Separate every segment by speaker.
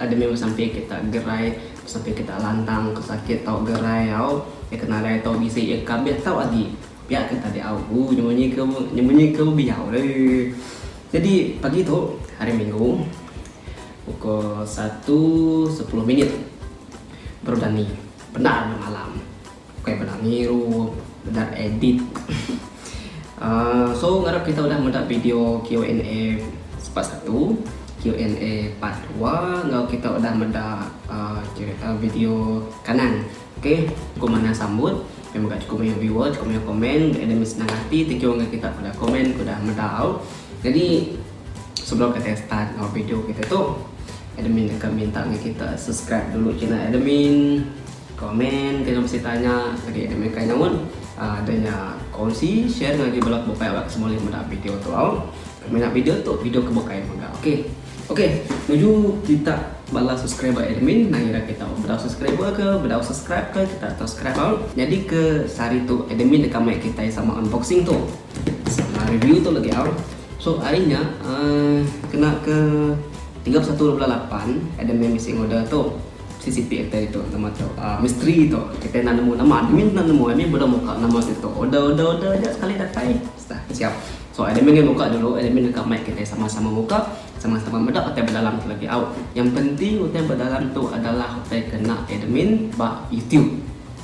Speaker 1: Ada mih besampi kita gerai, besampi kita lantang ke sakit tau gerai au, iya ke nadai tau bisi iya ke kabeh tau agi pia ke tadi au uh nyemunyi ke nyemunyi ke bebiau le. Jadi pagi tu hari minggu pukul satu sepuluh minit baru dani, bendar malam. Bukai meda ngiru, meda edit. Uh, so ngarap kita udah meda video Q&A part 1, Q&A part 2 enggau kita udah meda uh, uh, video kanan. Okey, cukup mana sambut. Memang gak cukup banyak viewer, cukup banyak komen. Ada mesti senang hati, thank you enggak kita pada komen, kuda meda au. Jadi sebelum kita start our video kita tu, admin akan minta kita subscribe dulu channel admin. Komen dengan bisi tanya agi deh meh kai nyaut deh nya kongsi share ngagai bala ke bukai awak semulih meda video tu au mina video tu video ke bukai mega ok ok nuju kita bala subscriber admin nang ira kita bedau subscriber ke bedau subscribe ke kita atur subscribe au nyadi ke sehari tu admin deka meh kitai sama unboxing tu sama review tu legi au so ari nya uhh kena ke tiga puluh satu bulan lapan admin bisi order tu. CCP atai tu nama tu uh, misteri tu kita nak nemu nama admin nak nemu admin bodoh muka nama tu tu order order order aja sekali datai dah siap so admin ni muka dulu admin dekat mic kita sama-sama muka sama-sama meda kita berdalam tu lagi au yang penting kita berdalam tu adalah kita kena admin ba YouTube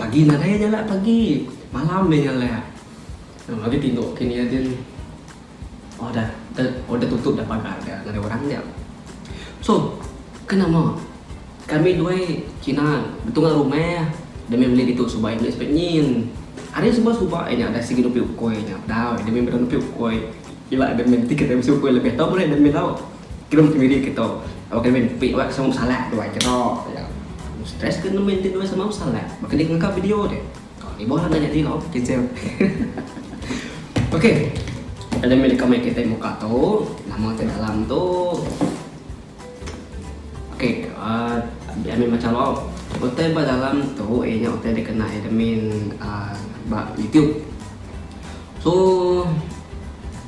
Speaker 1: Pagi nadai iya jalak pagi. Malam iya jalak. Nama agi tinduk ke nia din. Oh dah oh dah tutup dah pagar dia ngagai orang dia. So ke nama kami due kina betunga rumah demi meli ditu suba iya meli sipit nyin. Ari suba suba iya nya dah sigi nupi ukoi nya. Dau demi beda nupi ukoi ila demi ti kitai bisi ukoi lebih tau murih demi tau. Kirum kemiri ke to. Awak kami nepi awak sama besalah tu ai keno ya. Stress ke nemu enti dua sama besalah. Baka di ngega video tu. Ka ni boh enda nyadi lo cancel. Okey. Kita nyami deka mai kitai muka tu. Nama ti dalam tu. Okey, uh, ah, ami macam lo. Utai ba dalam tu eh nya utai dikena admin uh, ah, ba YouTube. So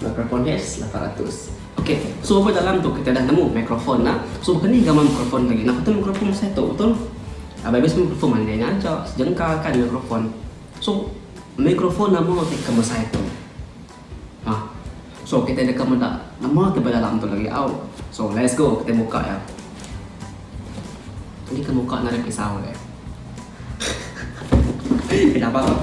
Speaker 1: Mikrofon Hes lapan ratus. Okey, so bapa dalam tu kita dah nemu mikrofon nah. So bapa ni gamal mikrofon lagi. Nah, betul mikrofon masa itu betul. Abai bes mikrofon mandai nya aja, sejengkal kan mikrofon. So mikrofon nama ti ke masa itu. Ha. So kita deka meda nama ti ba dalam tu lagi au. So let's go kita buka ya. Ini ke muka nak ada pisau dia. Kenapa kau?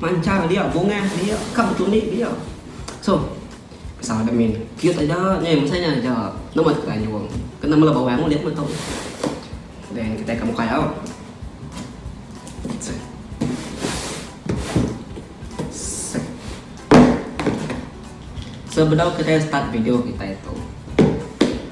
Speaker 1: Manchar dia bungah dia ka betunik dia. So Sa admin cute aja nyai masa nya aja nama tu kayung kena mela bawang ulit meh tu. Then kita ke muka au. Sebedau kita start video kita itu.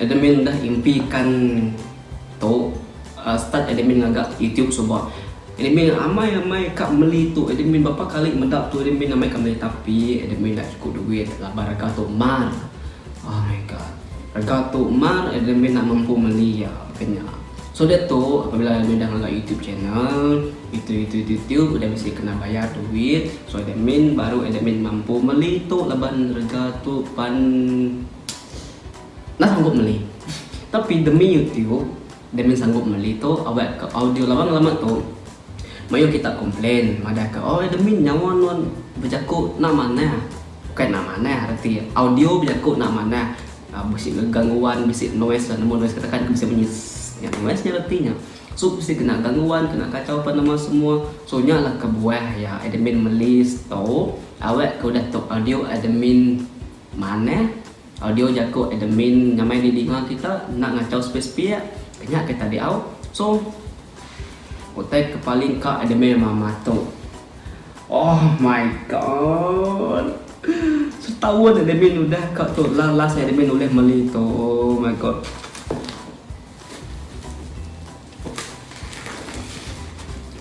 Speaker 1: Admin udah impi kan tu start admin ngaga YouTube suba admin amai amai ka meli tu admin berapa kali meda tu admin amai ka meli tapi admin enda cukup duit laban rega tu mar oh my god rega tu mar admin enda mampu meli ya kena so da tu apabila admin dah ngaga YouTube channel itu itu itu itu udah mesti kena bayar duit so admin baru admin mampu meli tu laban rega tu pan Enda sanggup meli. Tapi demi YouTube Damian sanggup meli tu awak ka audio laban lama tu mayuh kita komplain madah ka oi Damian nyawa nuan bejaku enda manah. Bukai enda manah reti audio bejaku enda manah bisi gangguan bisi noise nemu noise ka tekan bisi bunyi sss nya noise nya reti nya su bisi kena gangguan kena kacau apan nama semua so nya lah kebuah iya Damian meli stop awak ka udah stop audio Damian. Manah, Audio jaku Adam Min nyamai di dinga kita enda ngachau sepik-sepik, kenyah ke tadi au. So, utai ke paling ka Adam Min mama tu. Oh my god. Setaun Adam Min udah ka tu lah last Adam Min ulih meli tu. Oh my god.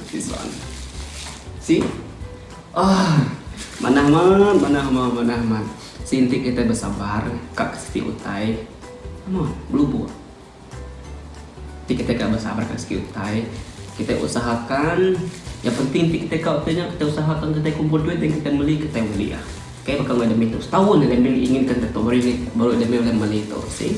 Speaker 1: Okey soalan. Si. Ah. Manah man, manah man, manah man. Si inti kita bersabar, kak siki utai. Mo, belubu. Ti kita kak bersabar kak siki utai. Kita usahakan yang penting ti kita kak utai kita usahakan kita kumpul duit dan kita beli kita beli ya. Kayak bakal ada minggu setahun ada minggu ingin kita tuh baru ini baru ada minggu yang beli tuh sih.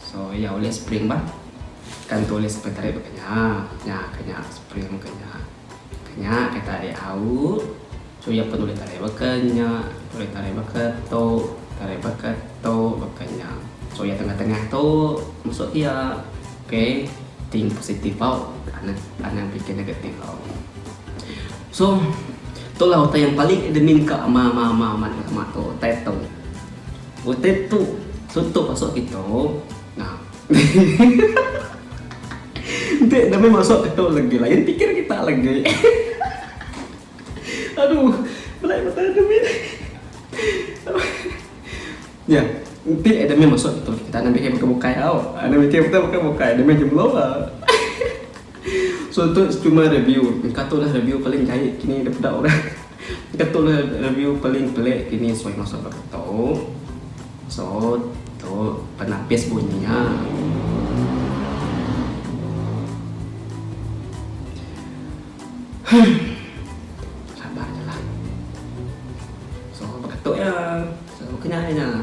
Speaker 1: So iya ulih spring bah. Kan tu ulih sampai tarik ba kenya. Nya ka nya spring ka nya. Ka nya ka tarik au. So iya pun ulih tarik ba kenya, ulih tarik ba ka tu, tarik ba ka tu ba kenya. So iya tengah tengah tu masu iya. Okay. Think positive bau anang anang pikir negatif bau. So tu lah utai yang paling admin ka ama ama ama ama ama tu utai tu. Utai tu suntuk masuk kita nah. Enti dami masuk kita legi lain pikir kita legi. Aduh belai ku tahan dami nih. Nya enti dami masuk kita legi kita anak mikir bukai bukai tau. Anak mikir kita bukai bukai dami jemlo. So tu cuma review engka tu lah review paling jai kini dipeda orang engka tu lah review paling pelik kini suai masa ba keto so tu penapis bunyi nya huh sabar je lah so ba keto nya so kenyai nya.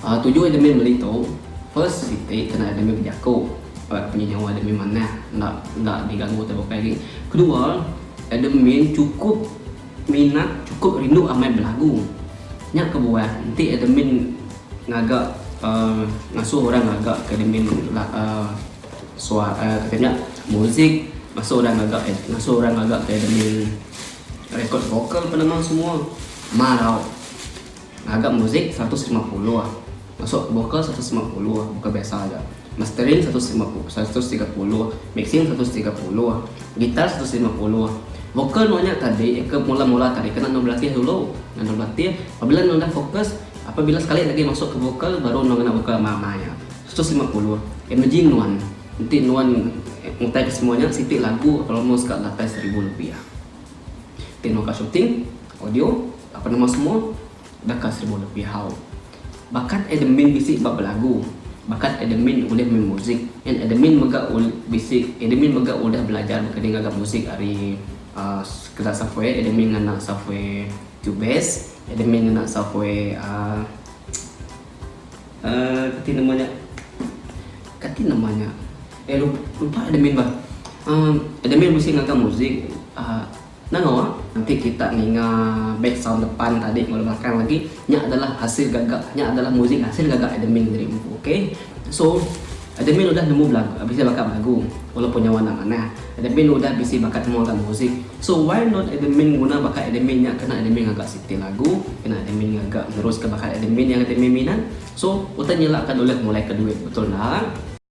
Speaker 1: Aaa tuju admin meli tu first siti kena admin bejaku ba punya nyawa admin manah enda enda digagu tai bukai agi. Kedua admin chukup minat chukup rindu amai belagu. Nya kebuah enti admin ngaga aaa ngasuh orang ngaga ke admin la aaa sua aaa kita nya muzik ngasuh orang ngaga ad ngasuh orang ngaga ke admin record vokal pe nama semua marau. Ngaga muzik seratus lima puluh, masuk bokal seratus lima puluh, bokal biasa aja. Mastering seratus lima puluh, seratus tiga puluh, mixing seratus tiga puluh, gitar seratus lima puluh. Vokal nuan nya tadi ke mula-mula tadi kena nuan belatih dulu. Kena nuan belatih, pabila nuan udah fokus, apabila sekali lagi masuk ke vokal baru nuan ngena vokal ama-ama nya. Seratus lima puluh. Imagine nuan, enti nuan ngutai ke semua nya siti lagu almost ka lapan seribu lebih. Enti nuan ka shooting, audio, Penemu semua baka seribu lebih hau. Bakat admin bisi ba belagu, bakat admin ulih main muzik and admin mega bisi admin mega udah belajar baka ni ngaga muzik ari sekeda software admin ngena software cubase admin ngena software uhh kati nama nya kati nama nya eh lupa admin bah uhh admin bisi ngaga muzik uhh. Nano ah enti kita ninga back sound depan tadi enggau belakang lagi nya adalah hasil gaga nya adalah muzik hasil gaga admin tadi empu ok so admin udah nemu belagu bisi baka belagu walaupun nya warna manah admin udah bisi baka nemu alat muzik so why not admin nguna baka admin nya kena admin ngaga siti lagu kena admin ngaga neruska baka admin yang admin minat so utai nyilaka dulih mulaika duit betul enda.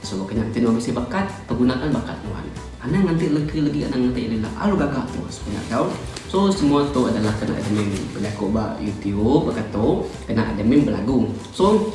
Speaker 2: Suba kena enti nuan
Speaker 1: bisi bakat, pergunakan bakat nuan. Anang nganti legi legi anang nganti ila ila alu gaga tu sekunya tau. So semua tu adalah kena admin bejaku ba youtube baka tu, kena admin belagu. So.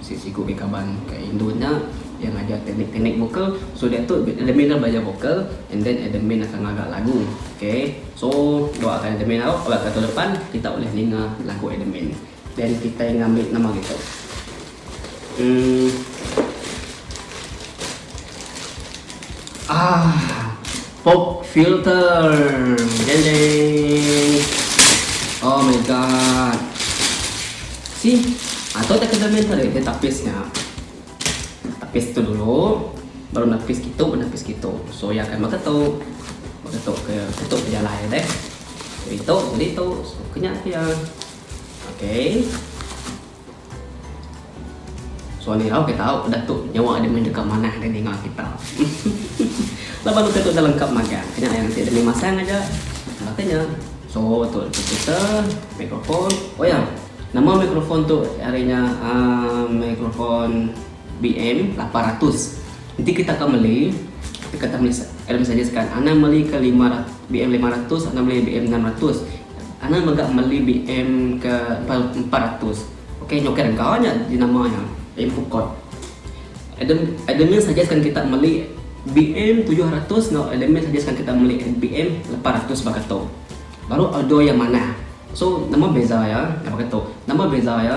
Speaker 1: Sisiku mih kaban ka indu nya iya ngajar teknik-teknik vokal so dia tu admin nya belajar vokal and then admin akan ngaga lagu ok so doakan admin aro ba tahun depan kita ulih ninga lagu admin then kitai ngambi nama gitu uhh aahh. Pop filter. Deng deng. Oh my god. See? Atau tak kena main tarik dia tapis nya. Tapis tu dulu. Baru napis gitu, napis gitu. So ya kan maka tu. Maka tu ke tutup dia lah ya deh. Jadi tu, jadi tu. So kena dia. Okay. Sualihau ke tau peda tu nyawa aja meh deka manah deh ninga kita. Laban utai tu enda lengkap magang ke nya yang enti demi masang aja enda ke nya. So tu speaker, microphone. Oh ya, nama microphone tu ari nya aaa microphone BM lapan ratus. Enti kita ka meli deka tau meli elokasah nya sekaat. Anang meli ke lima ratus BM lima ratus anang meli BM enam ratus. Anang mega meli BM ke empat ratus. Okey nyokai rega nya jenama nya Infocode. Adam Admin suggestkan kita meli BM tujuh ratus enggau Admin suggestkan kita meli BM lapan ratus baka tu. Baru order iya manah. So nama beza iya baka tu. Nama beza iya.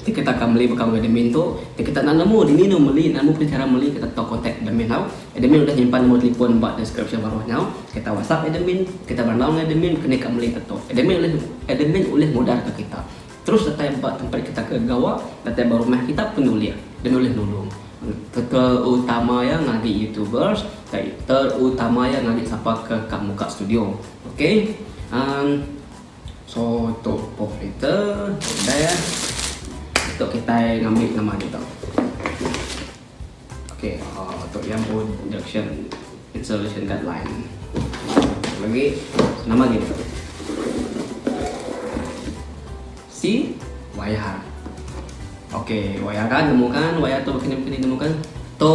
Speaker 1: Ti kita ka meli baka mega admin tu, ti kita enda nemu dini anu meli, nemu pun chara meli kita tau kontak admin tau. Admin udah nyimpan nembor telefon ba deskripsyen baruh nyau. Kita whatsapp admin, kita berandau enggau admin ke nika meli ke tu. Admin ulih admin ulih mudar ka kita. Terus datai ba tempat kita ke gawa, datai ba rumah kita pun ulih. Admin ulih nulung. Terutama iya ngagi youtubers, terutama iya ngagi sapa ke ka muka studio. Okay. Amm. So tu pork kita dah ya. Tu kitai ngambi nama agi tau. Okay, uh, tu yang pun injection installation guideline. Lagi nama agi tau. Si wayar. Okay, wayar kan temukan, wayar tu kini kini temukan. Tu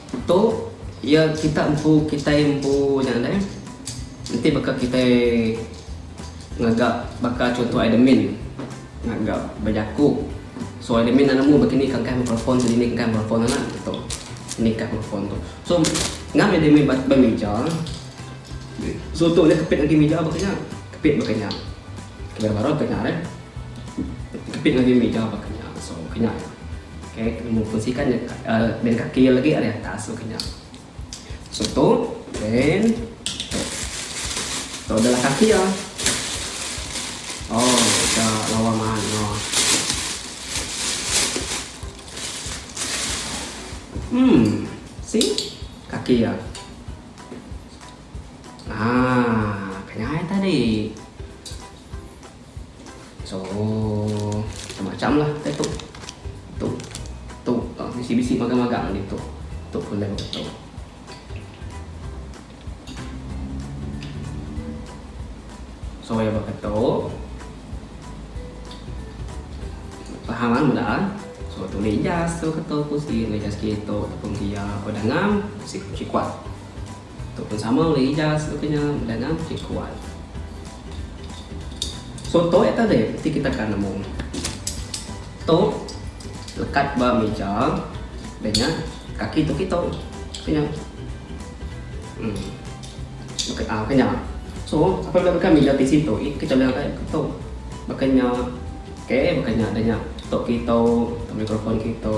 Speaker 1: Tu iya kita empu kitai empu nya deh. Enti baka kitai ngaga baka chunto admin ngaga bejaku so admin nya nemu begini ka engkah microphone tu dini ka engkah microphone anak tu nih ka microphone tu so ngam admin ba ba mija so tu nya kepit agi mija baka nya kepit baka nya. Kira baru ka nya deh. Kepit ngagai mija baka nya so ke nya ya. Okay nemu kunsi kan ben kaki ya lagi ari atas so ke nya. So tu ben tu. So adalah kaki ya. Oh, kita lawa man no. Hmm, si kaki ya. Ah, kenyai tadi. So macam-macam lah kita tok. Tok. Tok. Ah, bisi-bisi magang-magang ni tok. Tok pun dah betul. So ya bakal tok. Paham kan mula kan? So tu lejas tu ketok pun si lejas kita tok pun dia pada ngam si kuat. Tu pun sama ulih ijaz lagu nya dengan ti kuat. Contoh ya tadi ti kita ka nemu. Tu lekat ba meja dan nya kaki tu kita kena hmm maka ah kena so apa benda bukan meja tisi tu i kita lihat ai tu makanya okey makanya adanya tok kita mikrofon kita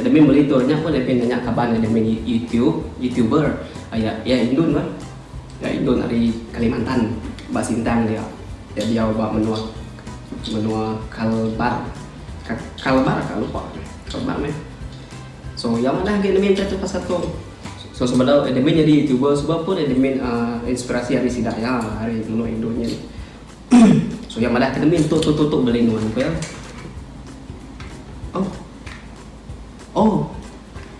Speaker 1: Admin monitor nya pun lebih nanya kaban admin YouTube, youtuber aya iya indun bah. Iya indun ari Kalimantan ba Sintang dia. Dia diau ba menua menua Kalbar. Ka, Kalbar ka lupa. Kalbar meh. So iya madah agi admin tu pasal tu. So sebedau admin nyadi youtuber suba pun admin uh, inspirasi ari sida iya ari menua indun nya. So iya madah ke demi tu tu tu tu beli nuan ke. Oh. Oh.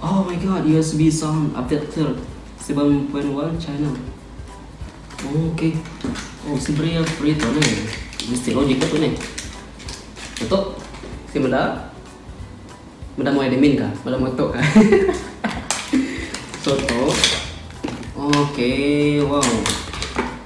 Speaker 1: Oh my god, USB sound adapter 7.1 channel. Oh, okay. Oh, si beri ya, beri tu ni. Mesti logik tu ni. Betul. Si madah. Madah mau admin kah? Madah mau tok kah? so, tu. Okay, wow.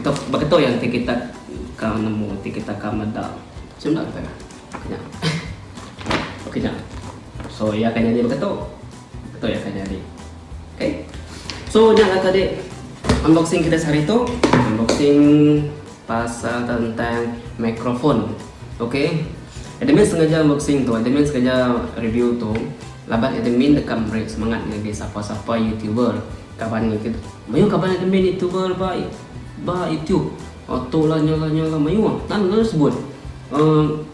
Speaker 1: Keto beketo yang ti kita ka nemu ti kita ka meda. Sunda kita ka. Nya. Okey nya. So iya akan jadi beketo. Beketo iya akan jadi. Okey. So nya lah tadi unboxing kita sehari tu. Unboxing pasal tentang mikrofon. Okey. Admin sengaja unboxing tu, admin sengaja review tu laban admin deka meri semangat ngagai sapa-sapa YouTuber Kaban nya ke mayuh kaban admin nya tebal ba ba YouTube. Auto lah nya lah nya lah mayuh nan lalu sebut. Uhh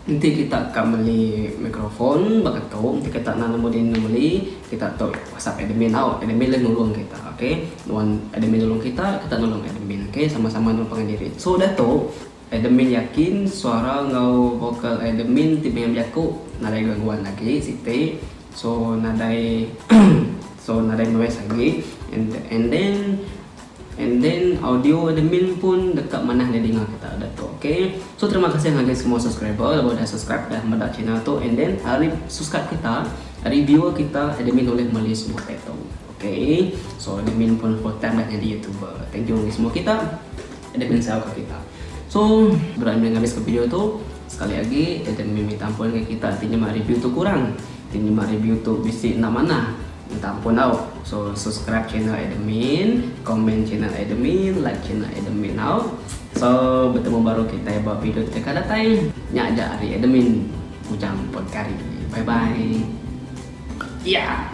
Speaker 1: enti kita ka meli mikrofon baka tu enti kita nan amu dini meli kita tu whatsapp admin tau admin la nulung kita okay nuan admin nulung kita kita nulung admin okay sama sama nuan pangan diri. So da tu. Edmin yakin suara enggau vokal Edmin ti meh bejaku nadai gaguan agi siti so nadai so nadai noise agi and then and then audio Edmin pun deka manah enda dinga kita udah tu ok so terima kasih ngagai semua subscriber laban udah subscribe udah meda channel tu and then ari subscribe kita ari viewer kita Edmin ulih meli semua dak tu ok so Edmin pun full time dah nyadi youtuber thank you ngagai semua kita. Enda kena jauh ka kita. So, berat meh ngabis ka video tu. Sekali agi, enda meh minta ampun enggau kita ti nyema review tu kurang. Ti nyema review tu bisi enda manah. Minta ampun au. So, subscribe channel Admin, comment channel Admin, like channel Admin au. So, betemu baru kitai ba video ti deka datai. Nya aja ari Admin, Ujang Potkari. Bye bye. Iya.